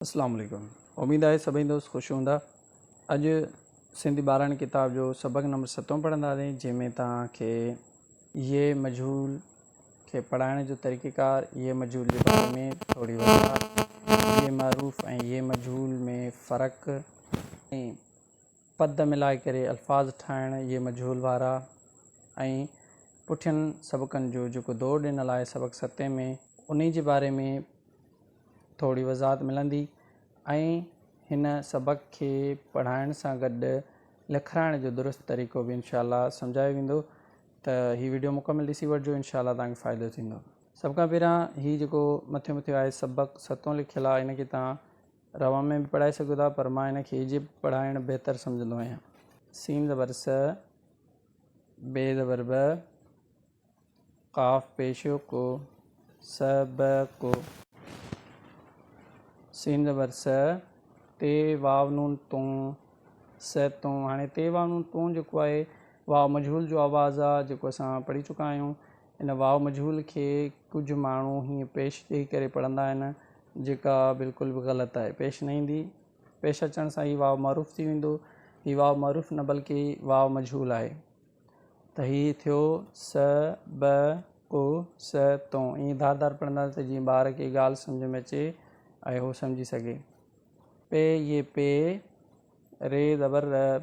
اسلام عليڪم اميد آهي سڀئي دوست خوش هوندا اڄ سنڌي ٻاراڻي ڪتاب جو سبق نمبر ستون پڙهنداسين جنهن ۾ توهان کي يي مجهول کي پڙهائڻ جو طريقيڪار يي مجهول جي باري ۾ ٿوري وضاحت يي معروف ۽ يي مجهول ۾ فرق ۽ پد ملائي ڪري الفاظ ٺاهڻ جي مجهول وارا ۽ پٺين سبقن جو جيڪو دور ڏنل آهي سبق ستين ۾ انهي جي باري ۾ ٿوري وضاحت ملندي ۽ هن سبق کي پڙهائڻ سان گڏ لکرائڻ جو درست طريقو به انشاء الله سمجهايو ويندو ته هي وڊيو مڪمل ڏسي وٺجو انشاء الله توهان کي فائدو ٿيندو سڀ کان پهريان هي جيڪو مٿي مٿي آهي سبق ستون لکيل آهي ان کي توهان روان ۾ به پڙهائي سگهو ٿا پر مان هن کي ايجپٽ پڙهائڻ بهتر سمجهندو آهيان. سين زبر س، ب زبر ب، قاف پيش ڪو، س ب ڪو. سين زبر س، ت واو نون تون، س تون. هاڻي ت واو نون تون جيڪو آهي واو مجهول جو آواز آ جيڪو اسان پڙهي چڪا آهيون. ان واء مجهول کي ڪجهه ماڻهو هيئن پيش ڏيئي ڪري پڙهندا آهن، جيڪا بلڪل به غلط آهي، پيش نه ايندي. پيش اچڻ سان هي واء معروف ٿي ويندو. هي واء معروف نه بلڪه واء مجهول آهي. ته هي ٿيو س، ب، ڪ، س، تون. ائين ڌار ڌار پڙهنداسين ته جيئن ٻار کي ڳالهه سمجهه ۾ اچي ۽ هو سمجهي سگهي. پي، ي، پي، ري زبر ر.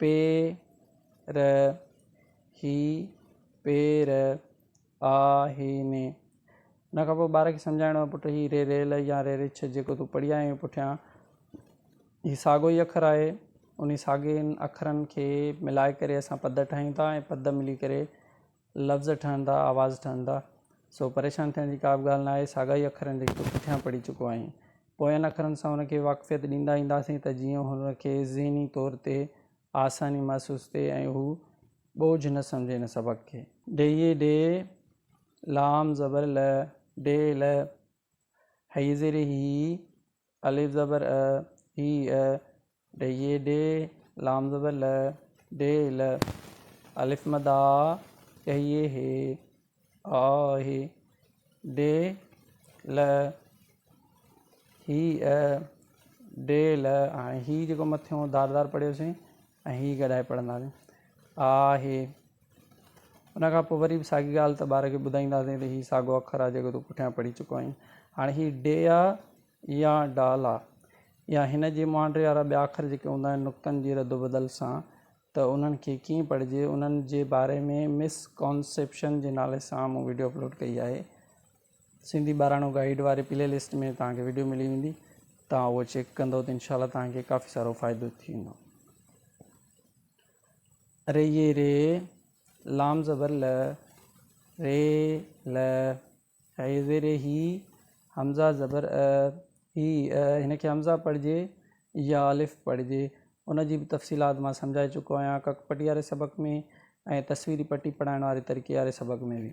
پير هي پير آهين. ان کان پوء ٻار کي سمجهائڻو آهي پٽ هي ري ريل يا ري رڇ جيڪو تون پڙهي آيو آهين پٺيان هي ساڳو ئي اکر آهي انهي ساڳين اکرن کي ملائي ڪري اسان پد ٺاهيون ٿا ۽ پد ملي ڪري لفظ ٺهن ٿا، آواز ٺهن ٿا، سو پريشان ٿيڻ جي ڪا به ڳالهه ناهي، ساڳائي اکرن جي تون پٺيان پڙهي چڪو آهين. پوين اکرن سان ان کي واقفيت ڏيندا اينداسين ته جيئن هن کي ذهني طور تي آساني محسوس ٿئي ۽ هو ٻوجهه نه سمجهي ان سبق کي. ڊيهي، ڊي، لام زبر ل، ڊي، ل، هيء زير هي، الف زبر ا، ء، ي، ا، ڊ، ي، ڊ، لام زبر ل، ڊ، ل، الف مد آ، ء، ي، ه، ي، آ، ه، ڊ، ل، هي، ء، ڊ، ل، هاڻي هي جيڪو مٿيون دار دار پڙهيوسين. ۽ هي گڏائي پڙهنداسين آ هي ان کان پوء وري به ساڳي ڳالهه ته ٻار کي ٻڌائينداسين ته هي ساڳو اکر آ جيڪو تون پٺيان پڙهي چڪو آهين هاڻي هي ڊي آ يا ڊال آ يا هن جي مهانڊي وارا ٻيا اکر جيڪي هوندا آهن نقطن جي رد و بدل سان ته انهن کي ڪيئن پڙهجي انهن جي باري ۾ مس ڪانسيپشن جي نالي سان مون وڊيو اپلوڊ ڪئي آهي سنڌي ٻاراڻو گائيڊ واري پلي لسٽ ۾ توهان کي ويڊيو ملي ويندي توهان اهو چيڪ ڪندو ته انشاء الله توهان کي ڪافي سارو فائدو ٿيندو ري یہ ري لام زبر ل ري ل هي زير هي حمزه زبر ا هي هن کي حمزه پڙھجي يا الف پڙھجي ان جي به تفصيلات مان سمجھائي چڪو آهيان ڪڪ پٽي واري سبق ۾ ۽ تصويري پٽي پڙھائڻ واري طريقي واري سبق ۾ به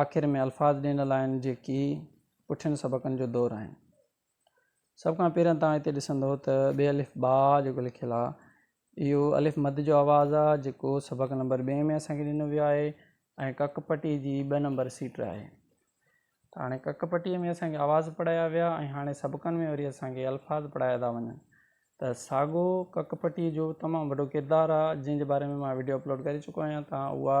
آخر ۾ الفاظ ڏنل آهن جيڪي پٺين سبقن جو دور آهن. سڀ کان پهريان توهان هتي ڏسندو ته ٻي الف با جيڪو لکيل آهي اهو الف مد جو آواز آهي جيڪو سبق نمبر ٻئين ۾ اسان کي ڏنو ويو آهي ۽ ڪڪ پٽي جي ٻه نمبر سيٽ آهي ته هاڻي ڪڪ پٽي ۾ اسان کي آواز پڙهايا ويا ۽ هاڻي سبقن ۾ وري اسان کي الفاظ پڙهايا ٿا وڃن ته ساڳو ڪڪ پٽي جو تمام وڏو ڪردار آهي جنهن جي باري ۾ مان ويڊيو اپلوڊ ڪري چڪو آهيان توهان اها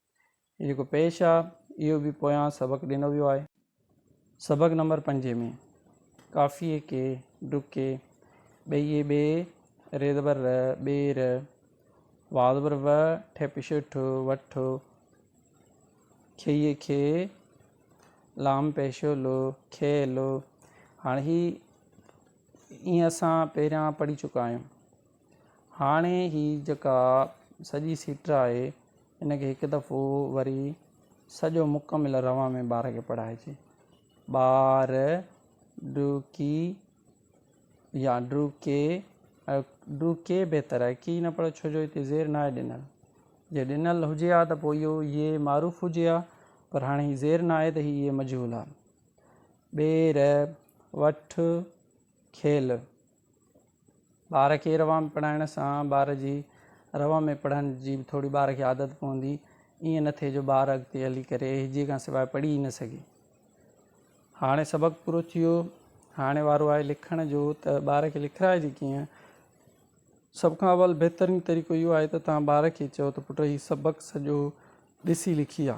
۾ جيڪو پيش آ اهو به پويان سبق ڏنو ويو آهي. سبق نمبر پنجين ۾ ڪافيء ڪي ڊڪي ٻيئي ٻي ري زبر ر ٻي ر واء زبر و ٺي پش ٺ وٺ کيئي کي لام پيش لو کي لو هاڻ هي ائين اسان پهريان پڙهي چڪا آهيون هاڻي هي جيڪا سڄي سٽ آهي ان کي هڪ دفعو وري سڄو مڪمل روان ۾ ٻار کي پڙهائجي. ٻار ڊوڪي يا ڊوڪي ڊوڪي بهتر آهي ڪي نه پڙهيو ڇو جو هتي زير ناهي ڏنل جي ڏنل هجي ها ته پوء اهو هي معروف هجي ها پر هاڻي هي زير ناهي ته هي مجهول آهي. ٻير وٺ کيل ٻار کي روان ۾ پڙهائڻ سان ٻار جي روان ۾ پڙهڻ جي به ٿوري ٻار کي عادت پوندي ائين نه ٿئي جو ٻار اڳتي هلي ڪري هجي کان سواء پڙهي ئي نه سگهي. هاڻي سبق پورو ٿيو هاڻي وارو آهي لکڻ جو ته ٻار کي لکرائجي ڪيئن سڀ کان اول بهترين طريقو اهو آهي ته تان ٻار کي چئو ته پٽ هي سبق سڄو ڏسي لکي آ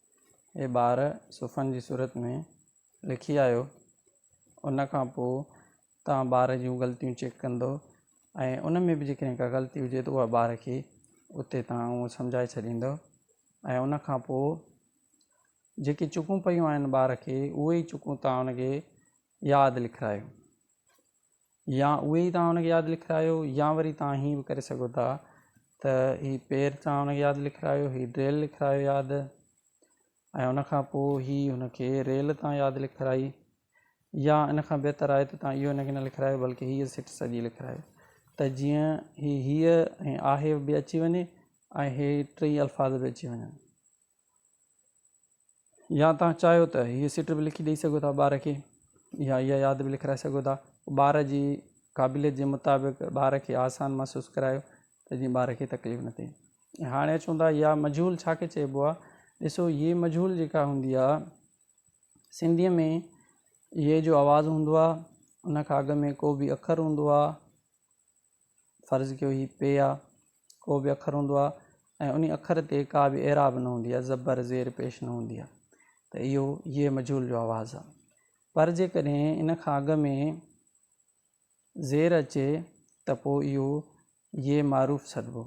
اهي ٻار صفحن جي صورت ۾ لکي آيو ان کان پوء تان ٻار جون غلطيون چيڪ ڪندو ۽ ان ۾ به جيڪڏهن ڪا غلطي هجي ته اها ٻار کي اتي تان اهو سمجهائي ڇڏيندو ۽ ان کان پوء جيڪي چڪون پيون آهن ٻار کي اهي ئي چڪون تان ان کي ياد لکرايو يا اهي ئي توهان هن کي ياد لکرايو يا وري توهان هيئن به ڪري سگهو ٿا ته هي پير توهان هن کي ياد لکرايو هي ڊريل لکرايو ياد ۽ ان کان پوء هي هن کي ريل توهان ياد لکرائي يا ان کان بهتر آهي ته توهان اهو هن کي نه لکرايو بلڪه هيء سٽ سڄي لکرايو ته جيئن هي هيء ۽ آهي به اچي وڃي ۽ هي ٽئي الفاظ به اچي وڃن يا توهان چاهيو ته هيء سٽ به لکي ڏئي سگهو ٿا ٻار کي يا اها ياد به لکرائي سگهو ٿا ٻار جي قابليت جي مطابق ٻار کي آسان محسوس ڪرايو ته جيئن ٻار کي تڪليف نه ٿئي ۽ هاڻي اچون ٿا يا مجهول ڇا کي چئبو آهي ڏسو هيء مجهول جيڪا هوندي آهي سنڌيء ۾ هيء جو آواز هوندو آهي ان کان اڳ ۾ ڪو به اکر هوندو آهي فرض ڪيو هي پي آ ڪو به اکر هوندو آ ۽ انهي اکر تي ڪا به اعراب نه هوندي آ زبر زير پيش نه هوندي آ ته اهو ي مجهول جو آواز آ پر جيڪڏهن ان کان اڳ ۾ زير اچي ته پو اهو ي معروف سڏبو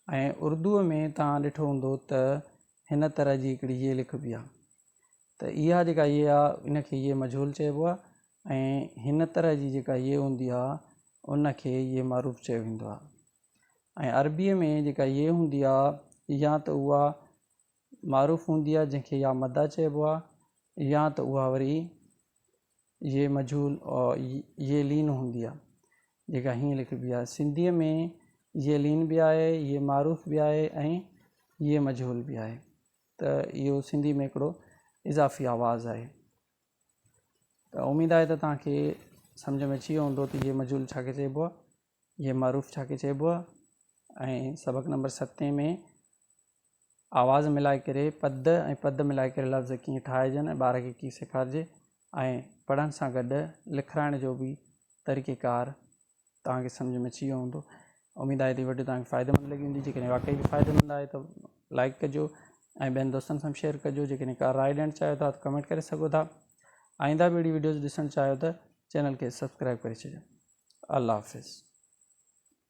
۽ اردوء ۾ توهان ڏٺو هوندو ته هن طرح جي هڪڙي ي لکبي آ ته اها جيڪا هيء آ ان کي هيء مجهول چئبو آ ۽ هن طرح جي جيڪا هيء هوندي آ ان کي هيء معروف چيو ويندو آ ۽ عربيء ۾ جيڪا هيء هوندي آ يا ته اها معروف هوندي آ جنهن کي يا مدا چئبو آ يا ته اها وري هيء مجهول هيء لين هوندي آ جيڪا هيئن لکبي آ سنڌيء ۾ هيء لين به آهي هيء معروف به آهي ۽ هيء مجهول به آهي ته اهو سنڌي ۾ هڪڙو اضافي آواز آهي ته اميد آهي ته توهان کي سمجهه ۾ اچي ويو هوندو ته هي مجهول ڇا کي چئبو آهي هي معروف ڇا کي چئبو آهي ۽ سبق نمبر ستين ۾ آواز ملائي ڪري پد ۽ پد ملائي ڪري لفظ ڪيئن ٺاهجن ۽ ٻار کي ڪيئن سيکارجي ۽ پڙهڻ سان گڏ لکرائڻ جو به طريقيڪار توهان کي سمجهه ۾ اچي ويو هوندو اميد آهي ته هي وڊيو توهان کي فائديمند لڳي هوندي جيڪڏهن واقعي به فائديمند آهي ته لائڪ ڪجو ۽ ٻين دوستن سان شيئر ڪجو جيڪڏهن ڪا راء ڏيڻ چاهيو ٿا ته ڪمينٽ ڪري سگهو ٿا آئنده به اهڙي وڊيوز ڏسڻ چاهيو ته چينل کي سبسڪرائب ڪري ڇڏيو الله حافظ